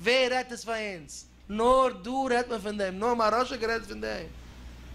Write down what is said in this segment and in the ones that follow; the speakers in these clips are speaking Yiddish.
ווער רעדט עס פאר אונז? נאר דא רעדט מען פון דעם? נאר מהרש א גערעדט פון דעם?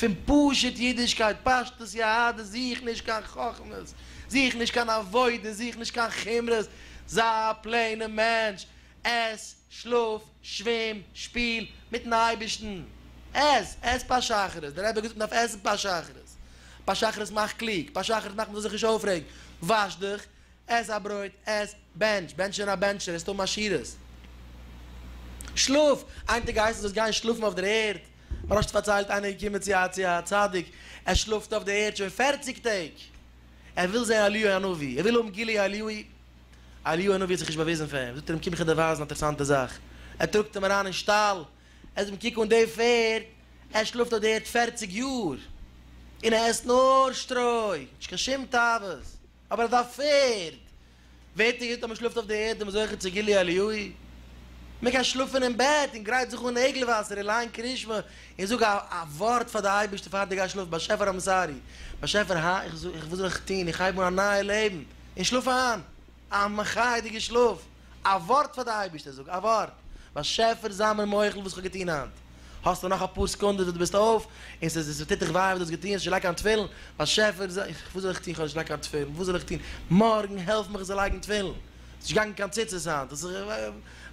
פון פשוט אידישקייט, פשטות יהדות, זוך נישט קיין חכמות, זוך נישט קיין עבודה, זוך נישט קיין חומרות, זיי א פלעינע מענטש, עס, שלאף, שווים, שפיל, מיטן אייבערשטן. עס, עס פאר שחרית, דער רבי האט געזאגט מען דארף עסן פאר שחרית, פאר שחרית מאך קלוג, פאר שחרית מאך מען זאל זיך נישט אויפרעגן, וואש דיך, עס א ברויט, עס, בענטש, בענטש און א בענטשער, עס טון עשירות. שלאף, איין טאג הייסן זאלסט גיין שלאפן אויף דער ערד, מיר האסט פארציילט איינער איז געקומען צו א צו א צדיק, ער שלאפט אויף דער ערד שוין פֿערציק טעג, ער וויל זען אליהו הנביא, ער וויל האבן גילוי אליהו, אליהו הנביא האט זיך נישט באוויזן פאר אים, זאגט ער אים קום איך גיב דיר ווייזן א אינטערעסאנטע זאך, ער טראגט אים אריין אין שטאל, ער זאגט אים קוק אן די פערד, ער שלאפט אויף דער ערד פֿערציק יאר, און ער עסט נאר שטרוי, נישט קיין שום תאוות. אבער אז א פערד ווערט צוהיט אז מען שלאפט אויף די ערד איז מען זוכה צו גילוי אליהו. מען קען שלאפן אין בעט און גרייט זיך אן עגלה וואסער און ליין קרישמע און זאג א א ווארט פאר די אייבערשטער פאר די גייסט שלאפן. באשעפער איים סארי, באשעפער הא? איך זאג איך וואס זאל איך טון? איך הייב אן א נייע לעבן און שלאף איין א מחייה'דיגע שלאף. א ווארט פאר די אייבערשטער, זאג א ווארט, באשעפער זיי מיר מוחל וואס כ'האב געטון היינט, האסטו נאך אפאר סעקונדעס וואס דו ביסט אויף, און ס'איז ס'טוט דיך וויי וואס דו האסט געטון, האסט נישט געלייגט קיין תפילין, באשעפער זיי, וואס זאל איך טון כ'האב נישט געלייגט קיין תפילין, וואס זאל איך טון, מארגן העלף מיך איך זאל לייגן תפילין, ס'איז נישט געגאנגען קיין ציצית היינט, עס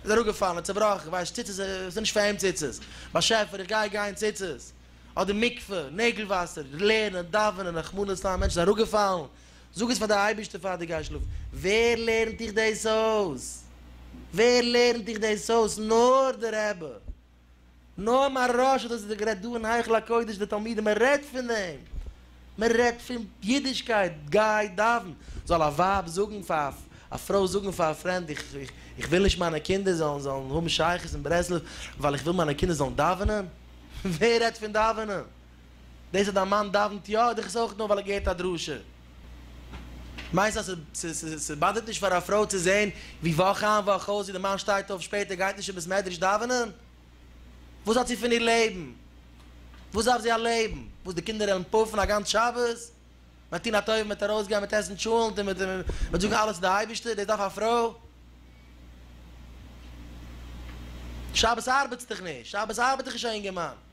איז אראפגעפאלן, צובראכן, איך ווייס ציצית ס'איז נישט פאר אים ציצית, באשעפער איך גיי גיין ציצית, אדער מקווה, נעגל וואסער, לערנען, דאווענען, רחמנא לצלן א מענטש איז אראפגעפאלן, זאג עס פאר די אייבערשטער פאר די גייסט שלאפן, ווער לערנט דיך דאס אויס? ווער לערנט דיך דאס אויס? נאר די רבי! נאר מהרש א האט אזוי גערעדט דא אין היכל הקודש די תלמידים מען רעדט פון דעם! מען רעדט פון אידישקייט, גיי דאווען! זאל א ווייב זאגן פאר א פרוי זאגן פאר א פרענד איך וויל נישט מיינע קינדער זאלן זאלן האבן שייכות אין ברסלב ווייל איך וויל מיינע קינדער זאלן דאווענען? ווער רעדט פון דאווענען? דאס אז דיין מאן דאווענט יא האט דיך עס אויך נאר ווייל ער געהערט א דרשה? מיינסט אז ס'באדערט נישט פאר א פרוי צו זעהן ווי וואך איין וואך אויס ווי די מאן שטייט אויף שפעטער גייט נישט אין בית מדרש דאווענען? וואס האט זי פון איר לעבן? וואס דארף זי א לעבן? וואס די קינדער וועלן פאפן א גאנץ שבת? מען וועט טון א טובה מען וועט ארויסגיין מען וועט עסן טשולענט און מען וועט זאגן אלעס צו די אייבערשטער דאס דארף א פרוי? שבת ארבעטסט דיך נישט שבת ארבעט דיך נישט א אינגערמאן.